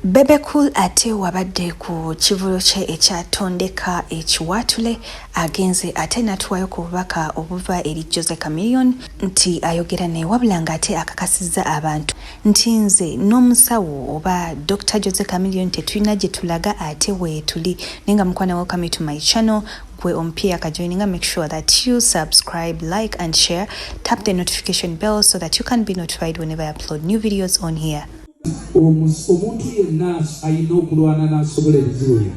Bebe Cool ate wabadde ku kivulu kye ekya Tondeka ekiwaatule agenze ate natuwayo ku bubaka obuva eri Jose Chameleone nti ayogera naye wabula ng'ate akakasizza abantu nti nze n'omusawo oba Dr Jose Chameleone tetulina gye tulaga ate weetuli naye nga mukwana welcome to my channel gwe omupya yakajoininga make sure that you subscribe like and share tap the notification bell so that you can be notified whenever I upload new videos on here omuntu yenna alina okulwana n'asobola ebizibu bye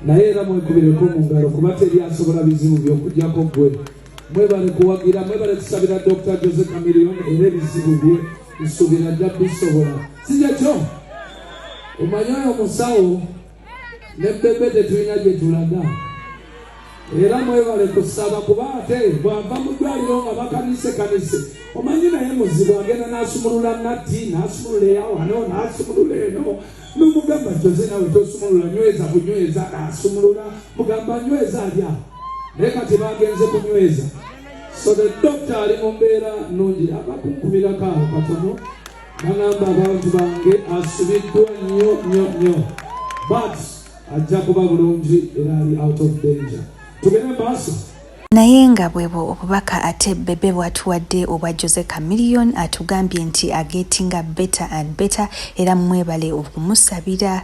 naye era mwekubireko mu ngalo kuba teri asobola bizibu by'okujjako gwe mwebale kuwagira mwebale kusabira dr jose camilion era ebizibu bye nsuubira ajja bisobola sijakyo omanyi oyo musawo ne bebe tetulina gye tulaga era mwebale kusaba kuba ate bwava mu ddwaliro nga bakanisekanise omanyi naye muzibu agenda n'asumulula natti n'asumulula eyawano n'asumulula eno nomugamba joze nawe tosumulula nyweza kunyweza n'asumulula mugamba nyweza alya naye kati bagenze kunyweza so the doctor ali mu mbeera nnungi abakunkumira kaawo katono Nagamba abantu bange asibiddwa nnyo nnyo nnyo but ajja kuba bulungi era ali out of danger tugende maaso naye nga bwebwo obubaka ate bebe bwatuwadde obwa jose camillion atugambye nti agetinga better and better era mwebale okumusabira